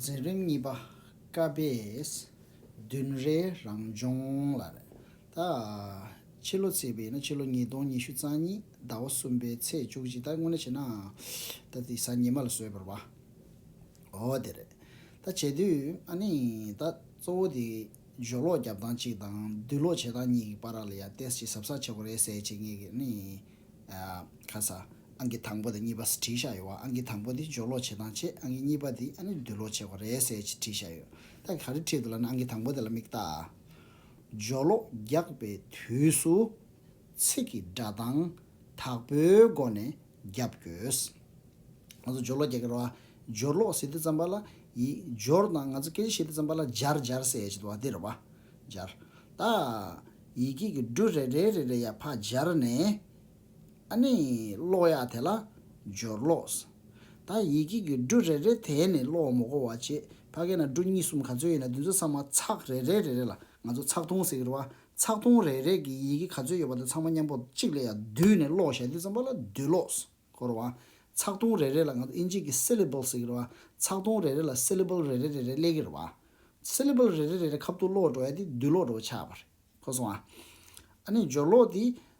འཛིན་རིམ་གཉིས་པ་ཀ་པས་བདུན་རེའི་རང་སྦྱོང་ལ་ཕྱི་ལོ་ཚེས་པའི་ཡིན་ན་ཕྱི་ལོ་ཉིས་སྟོང་ཉི་ཤུ་རྩ་གཉིས་ཟླ་བ་གསུམ་པའི་ཚེས་བཅུ་གཅིག་ད་དངོས་གནས་བྱས་ན་ད་དེ་གཟའ་ཉི་མ་ལ་སོས་པར་བ་འོ་དེ་རེད་ད་བྱས་དུས་ཨ་ནི་ད་གཙོ་བོ་དེ། སྦྱོར་ཀློག་རྒྱབ་སྟངས་གཅིག་དང་བསྡུ་ཀློག་བྱེད་སྟངས་གཉིས་ཀྱི་པར་རག་ལ་ཡར་བལྟས་ཅི་ཟབ་ས་ཆེ་པོ་རེད་གསལ་བྱེད་ངེས་ཀྱི་ནི་ཡིན། ཁ་ས། ཨང་ཀི་དང་པོ་དང་གཉིས་པ་ཟེར་བྲིས་བཞག་ཡོད་བ་ཨང་ཀི་དང་པོ་དེ་སྦྱོར་ཀློག་བྱེད་སྟངས་བྱེད་ཨང་ཀི་གཉིས་པ་དེ་ཨ་ནི་བསྡུ་ཀློག་བྱེད་པ་རེད་གསལ་བྱེད་བྲིས་བཞག་ཡོད། ད་ག་རེ་བྲིས་འདུག་ལ་ནི་ཨང་ཀི་དང་པོ་དེ་ལ་མིག་བལྟ། སྦྱོར་ཀློག་རྒྱག་པའི་དུས་སུ། ཚིག་གི་སྒྲ་གདངས་དག་པོའི་སྒོ་ནས་བརྒྱབ་དགོས། ང་ཚོ་སྦྱོར་ཀློག་རྒྱག་གི་རེད་བ། སྦྱོར་ཀློག་ཟེར་དུས་ཙམ་པ་ལ་ཡིག་སྦྱོར་དང་ང་ཚོ་སྐད་ཆ་བཤད་དུས་ཙམ་པ་ལ་སྦྱར་སྦྱར་ཟེར་བྱེད་དོ་བ་འདི་རེད་བ། སྦྱར། ད། ཡི་གེ་གི་འབྲུ་རེ་རེ་རེ་རེ་ཡར་ཕར་སྦྱར་ནས། ཨ་ནི། ཀློག་ཡག་དེ་ལ། སྦྱོར་ཀློག། ད་ཡི་གེ་གི་འབྲུ་རེ་རེ་དེ་ནི་ཀློག་བ་མོ་གོ་བ་བྱེད་ཕ་གི་ན་འབྲུ་གཉིས་གསུམ་ག་ཚོད་ཡིན་ན་དེ་ཚོ་ཚང་མ་ཚག་རེ་རེ་རེ་རེ་ལ་ང་ཚོ་ཚག་ཐུང་ཟེར་གི་རེད་བ། ཚགས་སྟོང་རེ་རེ་གི་ཡི་གེ་ག་ཚོད་ཡོད་པ་དེ་ཚང་མ་མཉམ་པོ་གཅིག་ལ་ཡང་བསྡུས་ནས་ཀློག་བཤད་འདི་ཙམ་པ་ལ་བསྡུས་ཀློག་སྐོར་བ། ཚགས་སྟོང་རེ་རེ་ལ་ང་ཚོ་ཨིན་ཇིས་ཀྱི Syllables ཟེར་གྱི་རེད་བ། ཚགས་སྟོང་རེ་རེ་ལ Syllable རེ་རེ་རེ་རེ་གླེགས་ཀྱི་རེད་བ། Syllable རེ་རེ་རེ་རེ་ཁབ་ཏུ་ཀློག་འགྲོ་ཡ་དེ་བསྡུས་ཀློག་འགྲོ་བ་ཆགས་པ་རེད། གོ་སོང་ང། ཨ་ནི་སྦྱོར་ཀློག་དེ་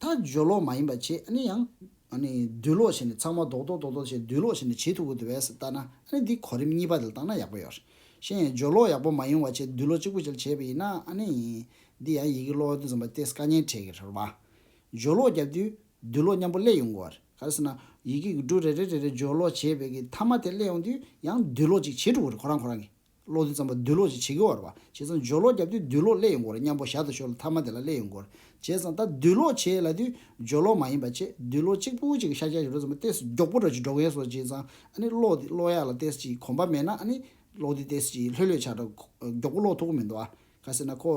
ད་སྦྱོར་ལོག་མ་ཡིན་པ་བྱེད་ཨ་ནི་ཡང། ཨ་ནི་བསྡུས་ལོག་བྱས་ནས་ཚང་མ་རྡོག་རྡོག་རྡོག་རྡོག་བྱས་བསྡུས་ལོག་བྱས་ནས་ཇེ་ཐུ་བོ་དེ་བས་སུ་བལྟ་ན་ཨ་ནི་འདི་གོ་རིམ་གཉིས་པ་དེ་ལ་བརྟག་ན་ཡག་པོ་ཡོད། གཞན་ཡང་སྦྱོར་ལོག་ཡག་པོ་མ་ཡོང་བ་བྱས་བསྡུས་ལོག་གཅིག་པུ་བྱས་བྱས་པ་ཡིན་ན་ཨ་ནི་ཡིན། འདི་ཡང་ཡི་གེ་ཀློག་དུས་རྩོམ་པ་སྟེ་སྐད་སྙན་གྲགས་ཀྱི་རེད་བ། སྦྱོར་ལོག་བརྒྱབ་དུས་བསྡུས་ལོག་མཉམ་པོ་སླེ་ཡོང་དགོས། ག་རེ་ཟེར་ན། ཡི་གེ་འགྱུར་གྲུ་རེ་རེ་རེ་རེ་སྦྱོར་ལོག་བྱས་བས་ཀྱི་མཐའ་མ་དེ་སླེ་ཡོང་དུས་ཡང་བསྡུས་ལོག་ཅིག་བྱེད་ཐུ་བོ་རེད་ཁོ་རང་ཁོ་རང་གིས། ལོག་དུས་ཙམ་པ་སྡུད་ལོག་ཅིག་བྱེད་ཀྱི་འོར་བ་བྱས་ཙང་སྦྱོར་ལོག་བརྒྱབ་དུས་སྡུད་ལོག་སླེ་ཡོང་གི་འོར་སྙམ་པོ་ཞར་དུ་ཤོར་ལ་ཐ་མ་དེ་ལ་སླེ་ཡོང་གི་འོར་བྱས་ཙང་ད་སྡུད་ལོག་བྱས་ལ་དུས་སྦྱོར་ལོག་མ་ཡིན་པ་ཆེད་སྡུད་ལོག་གཅིག་པུ་གཅིག་གི་ཤར་སྐྱ་ཞབས་རོལ་ཙམ་པ་ལྟས་སུ་མགྱོགས་པོ་འགྲོ་ཅིག་འགྲོ་མཁན་སོགས་བྱས་ཙང་ཨ་ནི་ལོག་དུས་ལོག་ཡག་ལ་ལྟས་སུ་ཅིག་གོམ་པ་མེད་ན་ཨ་ནི་ལོག་དུས་ལྟས་སུ་ཅིག་ལྷོད་ལྷོད་ཆགས་འདྲ་མགྱོགས་པོ་ལོག་ཐུག་གི་མི་འདུག་ཨ། ག་ཟེར་ན་ཁོ།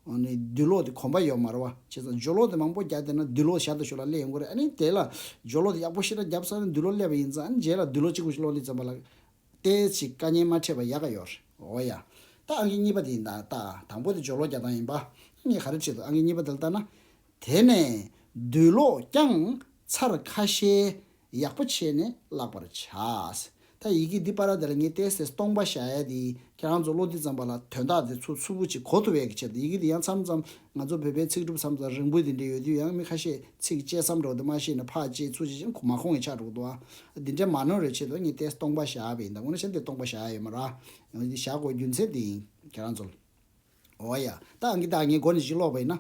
ནི་སྡུད་ལོག་དུས་གོམ་པ་ཡོག་མ་རོ་བ་བྱས་ཙང་སྦྱོར་ལོག་དུས་མང་པོ་བརྒྱག་བསྡད་ན་སྡུད་ལོག་ཞར་དུ་ཤོར་ལ་སླེ་ཡོང་གི་འོར་ཨ་ནི་དེ་ལ་སྦྱོར་ལོག་དུས་ཡག་པོ་ཤི་འདྲ་བརྒྱབ་ས་ནི་སྡུད་ལོག་སླེ་བ་ཡིན་ཙང་ཨ་ནི་རྗེས་ལ་སྡུད་ལོག་གཅིག་པུ་ཅིག་ལོག་དུས་ཙམ་པ་ལ་ལྟས་ཅིག་བཀའ་ཉན་མ་ཕྲད་པ་ཡག་ག་ཡོད་རེད། འོ་ཡ། ད་ཨང་ཀི་གཉིས་པ་དེ་ཡིན་ད་ལྟ། དང་པོ་དེ་སྦྱོར་ལོག་རྒྱག་སྟངས་ཡིན་པ། གཉིས་ག་རེ་ཁྲིད་འདུག་ཨང་ཀི་གཉིས་པ་དེ་ལ་ལྟ་ན། དེ་ནས། བསྡུས་ལོག་རྐྱང། ཚར་ཁ་ཤས། ཡག་པོ་བྱས་ནས་བཀླག་པར་བྱ། ད་ཡི་གེ་འདི་པ་ར་དེ་ལ་ངས་ལྟས་ལྟས་སྟོང་པ་བཞག་ཡ་དེ། ཁྱེད་རང་ཚོ་བློ་འདི་ཙམ་པ་ལ་དོན་དག་དེ་ཚོ་ཚུར་བུ་ཅིག་གོ་ཐུབ་ཡས་ཀི་ཆེད་དུ་ཡི་གེ་འདི་ཡང་མཚམས་མཚམས་ང་ཚོ་བོད་པའི་ཚིག་གྲུབ་མཚམས་སུ་རིང་པོ་དེ་འདྲ་ཡོད་དུས་ཡང་མི་ཁ་ཤས་ཚིག་བཅད་མཚམས་གྲོགས་དེ་མ་ཤེས་ནས་ཕག་ཅེས་ཚུར་བྱེད་ཅིང་ཁོ་མ་ཁོང་གི་ཕྱག་གྲོགས་དུ་ཨ། འདི་འདྲ་མ་ནོར་བའི་ཆེད་དུ་ངས་ཏེས་སྟོང་པ་བཞག་པ་ཡིན་ད་འོ་ན་བྱ་འདི་སྟོང་པ་བཞག་ཡོད་མ་ར། ཡང་འདི་བཞག་དགོས་རྒྱུ་མཚན་འདི་ཡིན་ཁྱེད་རང་ཚོ་ལ། འོ་ཡ། ད་ཨང་ཀི་ད་ངས་སྒོ་ནས་ཅིག་ཀློག་པ་ཡིན་ན།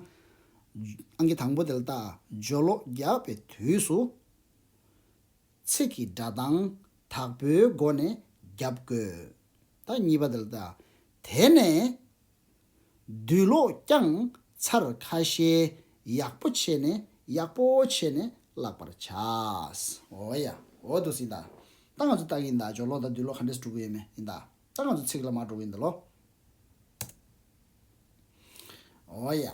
ཨང་ཀི་དང་པོ་དེ་ལ་ད་ཇོ་ལོ་རྒྱག་པའི་དུས་སུ། ཚིག་གི་སྒྲ་གདངས་དག་པོའི་སྒོ་ནས་རྒྱབ་དགོས། ད་གཉིས་པ་དེ་ལ་ད། དེ་ནས། བདུད་བློ་བསྐྱང་ཚར་ཁ་ཤས་ཡག་པོ་བྱས་ནས་ཡག་པོ་བྱས་ནས་བཀླག་པར་བྱ། འོ་ཡ། འོ་དུ་སི་ད། ད་ང་ཚོ་སྟག་ཡིན་ད་ཇོ་བློ་དང་བདུད་བློ་ག་འདྲས་སུ་འགྲོ་གི་ཡོད་མེད་ཡིན་ད། ད་ང་ཚོ་ཚིག་ལ་མ་འགྲོ་གི་འདི་ལོ། འོ་ཡ།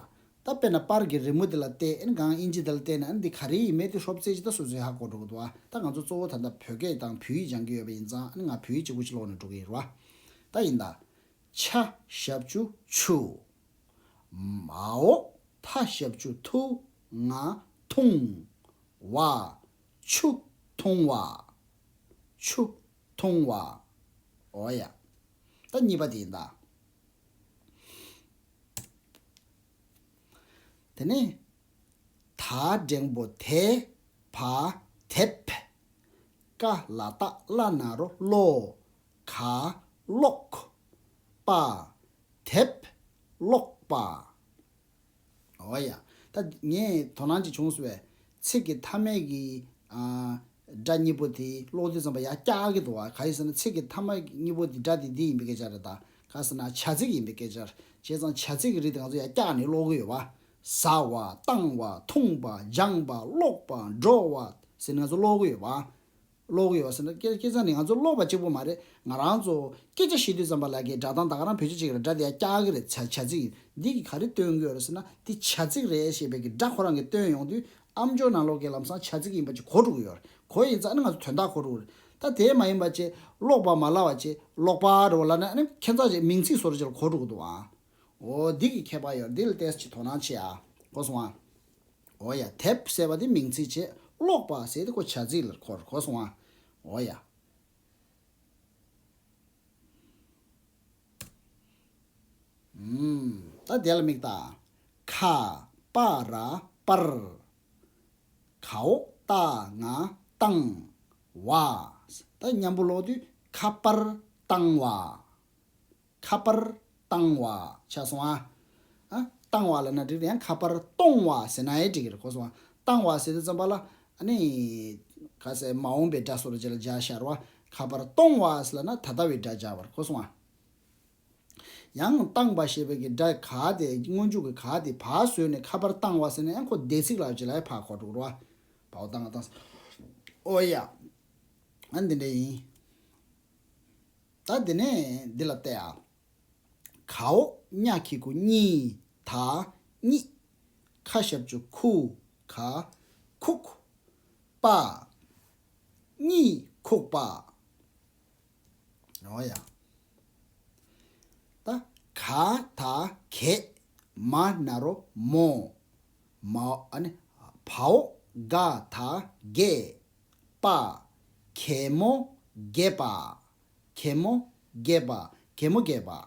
ད་དཔེར་ན་པར་གྱི་རི་མོ་དེ་ལ་བལྟས་ཨེ་ན་གང་ཨིན་ཇི་དེ་ལ་བལྟས་ན་ཨེ་ན་འདི་ག་རེ་ཡིན་མེད་དེ་ཧྲོབ་རྩེ་ཇི་ད་སོ་སོའི་ཧ་གོ་འགྲོ་གི་འདུག་ཨ། ད་ང་ཚོ་གཙོ་བོ་ད་ལྟ་བོད་སྐད་དང་བོད་ཡིག་སྦྱང་གི་ཡོད་པ་ཡིན་ཙང་ཨ་ན་ང་བོད་ཡིག་གཅིག་པུ་གཅིག་ལོག་ནས་འགྲོ་གི་ཡིན་རོ་ཨ། ད་ཡིན་ད། ཕྱ། ཞབས་བཅུ་ཆུ། མའོ། ཐ་ཞབས་བཅུ་ཐུ། ང། ཐུང། བ། ཆུ། ཐུང་བ། ཆུ། ཐུང་བ། འོ་ཡ། ད་གཉིས་པ་དེ་ཡིན་ད། དེ་ནས། ད་འགྲེང་བོ་དེ། བ། དེབ། ཀ། ལ། ཏག། བླ་ན་རོ། བློ། ག། ཀློག། པ། དེབ། ཀློག། པ། འོ་ཡ། ད། ངས་དོ་སྣང་བྱེད་བྱུང་ཟེར་བའི། ཚིག་གི་མཐའ་མའི་གི། སྒྲ་གཉིས་པོ་དེ་ཀློག་དུས་ཙམ་པ་ཡག་སྐྱག་གི་འདུག་བ་ག་ཡིན་ཟེར་ན་ཚིག་གི་མཐའ་མ་གཉིས་པོ་དེ་སྒྲ་དེ་འདི་ཡིན་པའི་སྐད་ཆ་རེད་ད་ག་ཟེར་ན་བྱ་ཚིག་ཡིན་པའི་སྐད་ཆ། བྱས་ཙང་བྱ་ཚིག་གི་རིགས་དེ་ང་ཚོ་ཡག་སྐྱག་ནི་ཀློག་གི་ཡོད་བ། ཟ་བ། བཏང་བ། འཐུང་བ། སྦྱངས་པ། ཀློག་པ། འགྲོ་བ། ཟེར་ནི་ང་ཚོ་ཀློག་གི་ཡོད་བ། ཀློག་ཡོད་ཟེར་ན་སྐད་སྐད་ཆ་ནི་ང་ཚོ་ཀློག་པ་གཅིག་པོ་མ་རེད་ང་རང་ཚོ་སྐད་ཆ་བཤད་དུས་ཙམ་པ་ལ་ཀའི་སྒྲ་གདངས་ད་ག་རང་བོད་ཆས་ཅིག་རེད་སྒྲ་དེ་ཡ་སྐྱག་གི་རེད་བྱ་ཚིག་ཡིན་འདི་གི་ག་རེ་སྟོན་གི་ཡོད་རེད་ཟེར་ན་འདི་བྱ་ཚིག་རེད་ཞེས་པའི་ཀའི་སྒྲ་ཁོ་རང་གིས་སྟོན་ཡོང་དུས་ཨ་མཆོག་ནང་ལོག་ཀའི་ལམ་སང་བྱ་ཚིག་ཡིན་པ་ཅིག་གོ་འགྲོ་གི་ཡོད་རེད་གོ་ཡིན་ཙང་ཨ་ནི་ང་ཚོ་དོན་དག་གོ་འགྲོ་གི་རེད་ད་དེ་མ་ཡིན་པ་བཅས་ཀློག་པ་མ་ལ་བ་བཅས་ཀློག་པ་རེད་བ་ལ་ནི་ཨ་ནི་ཁྱད་མཚར་ཅིག་མིང་ཚིག་སོགས་རེད་ཅིག་ལ་གོ་འགྲོ་གི་འདུག་ཨ་འོ་འདི་གི་ཁྱད་པར་ཡོད་རེད་འདི་ལ་ལྟས་ཅིག་དོ་སྣང་བྱེད་ཨ་གོ་སོང་ཨ། ཨོ་ཡ། དེབ་ཟེར་བ་དེ་མིང་ཚིག་ཆེད་ཀློག་པ་ཟེར་ཏེ་གོ་བྱ་ཚིག་ལ་གོར་གོ་སོང་ཨ། ཨོ་ཡ། ཨུམ། ད་དེ་ལ་མིག་བལྟ། ཁ། པ་ར། པར། ཁའོ། རྟ། ང། བཏང། བ། ད་མཉམ་པོ་ཀློག་དུས་ཁ་པར། བཏང་བ། ཁ་པར་བཏང་བ་ཆགས་སོང་ཨ། བཏང་བ་ལ་ན་འགྲིག་རེད་ཡང་ཁ་པར་གཏོང་བ་ཟེར་ན་ཨེ་འགྲིག་གི་རེད་གོ་སོང་ཨ། བཏང་བ་ཟེར་ཏེ་བརྩམས་པ་ལ་ཨ་ནི། ག་ཚད་མ་འོངས་པའི་སྒྲ་སོགས་ལ་སྦྱར་ལ་སྦྱར་ཤར་བ། ཁ་པར་གཏོང་བ་ཟེར་ལ་ན་ད་ལྟ་བའི་སྒྲ་སྦྱར་བར་གོ་སོང་ཨ། ཡང་བཏང་བ་ཞེས་པའི་གི་སྒྲ་ག་དེ་སྔོན་འཇུག་གི་ག་དེ་བ་བཟོས་ནས་ཁ་པར་བཏང་བ་ཟེར་ན་ཡང་ཁོ་བདེ་ཚིག་ལགས་ཀྱི་ལ་ཡ་བག་གོ་འགྲོ་གི་རོ་ཨ། བའོ་བཏང་བ་བཏང་ཟེར། ཨོ་ཡ། ཨ་འདི་འདྲ་ཡིན། ད་དེ་ནས་འདི་ལ་བལྟས་ཨ། གའོ་སྙགས་ཁྱི་གུ་གཉིས་ད་གཉིས། ཁ་ཞབས་ཅུ་ཁུ་ག་ཁུག། པ་གཉིས་ཁུག་པ། རོ་ཡ། ད་ག་ད་གས། མ་ན་རོ་མོ། མའོ་ཨ་ནི་བའོ་ག་ད་གས། པ། གད་མོ་བརྒྱད་པ། གད་མོ་བརྒྱད་པ། གད་མོ་བརྒྱད་པ།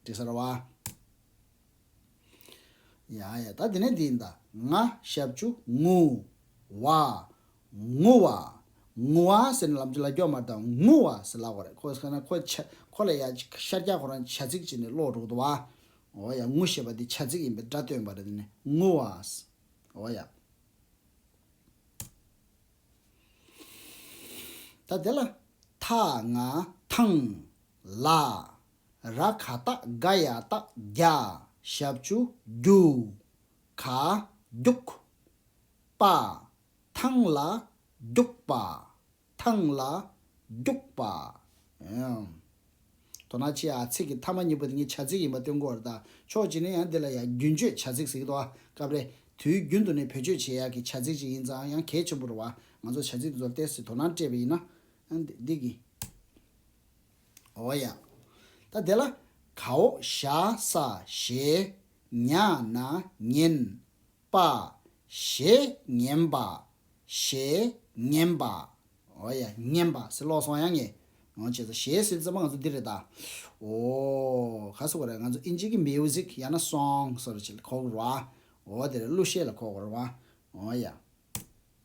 དྲི་ཟ་ར་བ། ཡ་ཡ་ད་དེ་ནས་འདི་ཡིན་ད། ང་ཞབས་ཆུ་ངུ། བ། ངུ་བ། ངུ་བ་ཟེར་ནས་ལམ་ཆུ་ལ་རྒྱོག་མ་ཏང་ངུ་བ་ཟེར་ལགས་པ་རེད་ཁོ་ཁོ་ན་ཁོ་ཆ་ཁོ་ལ་ཡ་ཤར་རྒྱག་ཁོ་རང་བྱ་ཚིག་ཅིག་ནས་ཀློག་འགྲོ་གི་འདུག་བ། འོ་ཡ་ངུ་ཞེས་པ་འདི་བྱ་ཚིག་ཡིན་པའི་སྒྲ་སྟོན་པ་རེད་དེ་ནས་ངུ་བ། འོ་ཡ། ད་དེ་ལ་ཐ་ང་ཐང་ལ་ར་ག་ཏག་ག་ཡ་ཏག་རྒྱ་ཞབས་ཅུ་རྒྱུ་ག་རྒྱུག་པ་ཐང་ལ་རྒྱུག་པ། ཐང་ལ་རྒྱུགས་པ། དོ་ན་ཅི་ཨ་ཚིག་གི་མཐའ་མ་གཉིས་པོ་དེ་གཉིས་བྱ་ཚིག་ཡིན་པ་སྟོན་གོ་བར་དང་ཕྱོགས་གཅིག་ནས་ཡང་འདི་ལ་ཡང་རྒྱུན་སྤྱོད་བྱ་ཚིག་ཟེར་གི་འདུག་ཨ་སྐབས་རེ་དུས་རྒྱུན་དུ་ནས་བེད་སྤྱོད་བྱེད་ཡག་གི་བྱ་ཚིག་ཅིག་ཡིན་ཙང་ཡང་གལ་ཆེན་པོ་རུ་བ་ང་ཚོ་བྱ་ཚིག་འདི་ཚོར་བལྟས་ཚེ་དོ་སྣང་སྤྲད་པ་ཡིན་ན་འདི་གི་འོ་ཡ། ད་དེ་ལ་གའོ་ཤ་ས་ཞེས། ཉག་ན་ཉན། པ། ཞེས་ཉན་པ། ཞེས་ཉན་པ། ཨོ་ཡ། ཉན་པ། སི་ལོག་སོང་ཡ་ངེས། ཨོ་བྱས་ཚོ། ཞེས་སིལ་ཙེ་མ་ང་ཚོ་འདི་རེད་ད། ཨོ། ག་སོ་གོ་རེ་ང་ཚོ་ཨིན་ཇིའི་གི Music ཡ་ན Song སོ་རེ་བྱས་ལ་ཁོག་རུ་ར། ཨོ་དེ་རེད་གླུ་གཞས་ལ་ཁོག་གོ་རུ་ར། ཨོ་ཡ།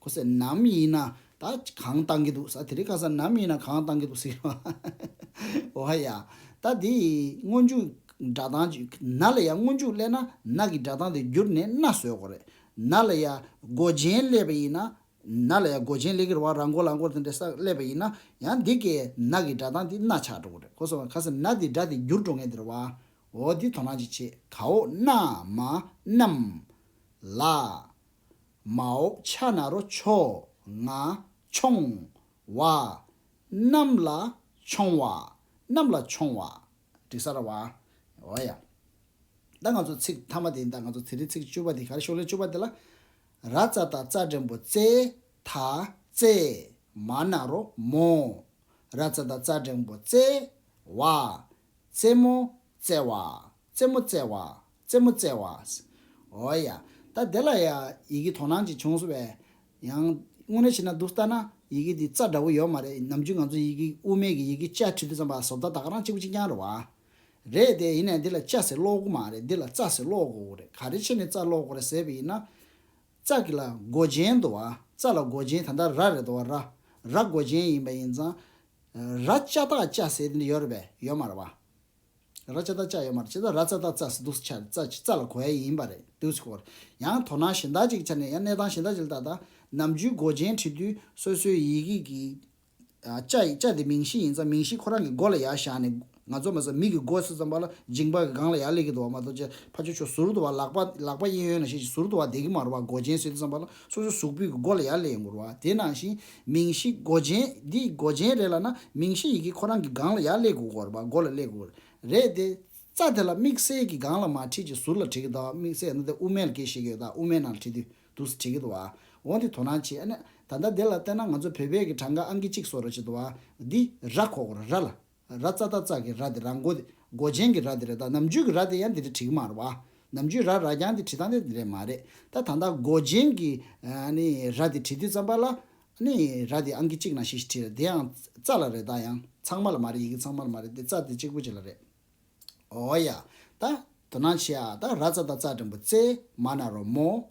ཁོ་ཟེར་ནམ་ཡིན་ན་ད་གང་བཏང་གི་འདུག་ཟ་དེ་རིང་ཁ་ཟ་ནམ་ཡིན་ན་གང་བཏང་གི་འདུག་ཟེར། བ་ཧ་ཡ། ད་དེ་སྔོན་མཇུག་སྒྲ་གདངས་ཀྱིས་ན་ལ་ཡ་སྔོན་མཇུག་གླས་ན་ན་གི་སྒྲ་གདངས་དེ་བསྒྱུར་ནས་ན་བཟོས་དགོས་རེད། ན་ལ་ཡ་མགོ་རྗེན་གླས་པ་ཡིན་ན་ན་ལ་ཡ་མགོ་རྗེན་གླས་ཀྱི་རེད་བ་ར་མགོ་ལ་མགོ་དེ་འདྲས་ས་གླས་པ་ཡིན་ན་ཡང་འདི་གའི་ན་གི་སྒྲ་གདངས་དེ་ན་ཆགས་འགྲོ་གི་རེད་ཁོ་ཟེར་བ་ཁ་ཟེར་ན་དེ་སྒྲ་དེ་བསྒྱུར་འགྲོ་ངེས་དེ་རེད་བ། འོ་འདི་དོ་སྣང་ཅིག་བྱེད་གའོ་ན་མ་ནམ། ལ། མ་འོབས་ཕྱག་ན་རོ་མཆོག་ང་མཆོང་བ། གནམ་ལ་མཆོང་བ། གནམ་ལ་མཆོང་བ། དྲི་ཟ་ར་བ། འོ་ཡ། ད་ང་ཚོ་ཚིག་མཐའ་མ་དེ་ཡིན་ད་ང་ཚོ་དེ་རིང་ཚིག་བཅུ་བ་དེ་གར་ཤོག་ལེ་བཅུ་བ་དེ་ལ། ར་རྩ་ད་རྩ་འགྲེང་བོ་རྩེ་ད་རྩེ། མ་ན་རོ་མོ། ར་རྩ་ད་རྩ་འགྲེང་བོ་རྩེ་བ། རྩེ་མོ་རྩེ་བ། རྩེད་མོ་རྩེ་བ། རྩེད་མོ་རྩེ་བ། འོ་ཡ། ད་དེ་ལ་ཡི་གེ་དོ་སྣང་ཅིག་བྱུང་སོང་བས། ཡང། དངོས་གནས་བྱས་ན་འདུག་ལྟ་ན་ཡི་གེ་འདི་རྩ་འདྲ་བོ་ཡོད་མ་རེད་ནམ་རྒྱུན་ང་ཚོ་ཡི་གེ་དབུ་མེད་ཀྱི་ཡི་གེ་བཅའ་ཁྲིད་དུ་བརྩམས་པ་བཟོ་ལྟ་ད་ག་རང་གཅིག་པུ་གཅིག་རྐྱང་རེད་བ། རེད་དེ་ཡིན་ནས་འདི་ལ་བཅའ་ཟེར་ཀློག་གོ་མ་རེད་འདི་ལ་རྩ་ཟེར་ཀློག་གོ་རེད་ག་རེ་ཕྱེ་ནས་རྩ་ཀློག་གོ་རེད་ཟེར་བས་ཡིན་ན། རྩ་གི་ལ་མགོ་ཅན་དུ་བ། རྩ་ལ་མགོ་ཅན་ད་ལྟ་ར་རེད་དོ་བ་ར། ར་མགོ་ཅན་ཡིན་པ་ཡིན་ཙང། ར་བཅའ་ཐག་བཅའ་ཟེར་དེ་འདྲ་ཡོད་རེད་བས་ཡོད་མ་རེད་བ། ར་ཅཱ་ཏཱ་ཅཱ་ཡོད་མ་རེད་བྱས་ཙང་ར་ཙཱ་ཏཱ་ཙཱ་སི་འདུག་ཆ་ཙཱ་ཅི་ཙཱ་ལ་གོ་ཡ་ཡིན་པ་རེད་འདུག་ཆུ་སྐོར་ཡང་དོ་སྣང་གཞན་དག་ཅིག་ཆ་ནས་ཡང་གནས་སྟངས་གཞན་དག་ཅིག་ལ་བལྟ་ད་ནམ་རྒྱུན་མགོ་ཅན་བྲིས་དུས་སོ་སོའི་ཡི་གེ་གི་ཅཱ་ཡི་ཅཱ་དེ་མིང་གཞི་ཡིན་ཙང་མིང་གཞི་ཁོ་རང་གི་མགོ་ལ་ཡར་བཞག་ནས་ང་ཚོ་མ་ཟད་མིག་གི་མགོ་ཆུ་ཙམ་པ་ལ་འཇིངས་པ་གི་སྒང་ལ་ཡར་སླེབས་ཀྱི་འདུག་བ་མ་གཏོགས་ཅཱ་ཕ་ཆོ་ཆོ་ཟུར་དུ་བ་ལག་པ་ལག་པ་གཡས་གཡོན་ན་ཤེས་ཀྱི་ཟུར་དུ་བ་བསྡད་ཀྱི་མ་རུ་བ་མགོ་ཅན་ཟེར་དུས་ཙམ་པ་ལ་སོ་སོའི་གཟུགས་སྤུས་ཀྱི་སྒོ་ལ་ཡར་ལེན་དགོས་རོ། དེ་ནང་བཞིན་མིང་གཞི་སྒོ་རྒྱན། འདི་ཡི་སྒོ་རྒྱན་རེད་ལ་ན་མིང་གཞི་ཡི་གེ་ཁོ་རང་གི་སྒང་ལ་ཡར་སླེབས་དགོས་དགོས་རོ་སྒོ་ལ་སླེབས་དགོས་རེད་དེ། རྩ་དེ་ལ་དམིགས་བསལ་གྱི་སྒང་ལ་མ་བྲིས་ཀྱི་ཟུར་ལ་བྲིས་ཀྱི་འདུག་དམིགས་བསལ་ན་དེ་དབུ་མའི་ལ་ཀའི་ཞེས་ཡོད་ད་དབུ་མའི་ནང་ལ་བྲིས་དུས་འདུག་སེ་བྲིས་ཀྱི་འདུག་འོ་འདི་དོ་སྣང་བྱེད་ཨ་ནི། ད་ལྟ་འདི་ལ་བལྟས་ན་ང་ཚོ་བོད་པའི་གི་གྲངས་ཀ་ཨང་ཀི་གཅིག་སོ་ར་བྱེད་འདུག་འདི་ར་གོ་དགོས་རོ་ར་ལ་ར་རྩ་རྟ་རྩ་གི་ར་དེ་ར་མགོ་དེ་མགོ་ཅན་གྱི་ར་དེ་རེད་ད་ནམ་རྒྱུན་གྱི་ར་དེ་ཡང་དེ་རེད་བྲིས་གི་མ་རེད་བ། ནམ་རྒྱུན་ར་ར་རྐྱང་དེ་བྲིས་སྟངས་དེ་དེ་རེད་མ་རེད་ད་ད་ལྟ་མགོ་ཅན་གྱི་ར་དེ་བྲིས་དུས་རྩམ་པ་ལ་ར་དེ་ཨང་ཀི་གཅིག་ན་ཞེས་ཞེས་བྲིས་རེད་དེ་ཡང་རྩ་ལ་རེད་ད་ཡང་ཚང་མ་ལ་མ་རེད་ཡི་གེ་ཚང་མ་ལ་མ་རེད་དེ་རྩ་དེ་གཅིག་པོ་གཅིག་ལ་རེད། ཨོ་ཡ། ད་དོ་སྣང་བྱེད་ཨ་ད་ར་རྩ་རྟ་རྩ་དྲན་པོ་རྩེ་མ་ན་རོ་མོ།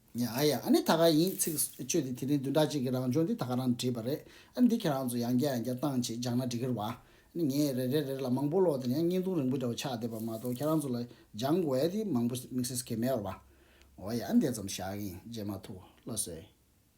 ཉ་ཨ་ཡ་ཨ་ནི་ད་ག་ཡིན་ཚིག་བཅོས་དེ་དེ་རིང་བདུན་ཕྲག་གཅིག་གི་རང་བྱུང་འདི་ད་ག་རང་བྲིས་པ་རེད་ཨ་ནི་འདི་ཁྱེད་རང་ཚོ་ཡང་བསྐྱར་ཡང་བསྐྱར་བཏང་བྱེད་སྦྱང་ན་འགྲིག་གི་རེད་བ་ཨ་ནི་ངས་རེ་རེ་རེ་ལ་མང་པོ་ཀློག་དེ་ནས་ཡང་བརྙན་ཐུང་རིང་པོ་འདྲ་བོ་ཆགས་བསྡད་པ་མ་གཏོགས་ཁྱེད་རང་ཚོ་ལ་སྦྱང་དགོས་ཡ་དེ་མང་པོ་དམིགས་བསལ་སུ་ཁེལ་མེད་བར་བ་ཨོ་ཡ་ཨ་ནི་དེ་ཙམ་བཞག་གིན་རྗེས་མ་ཐུགས་བློ་བཟོས།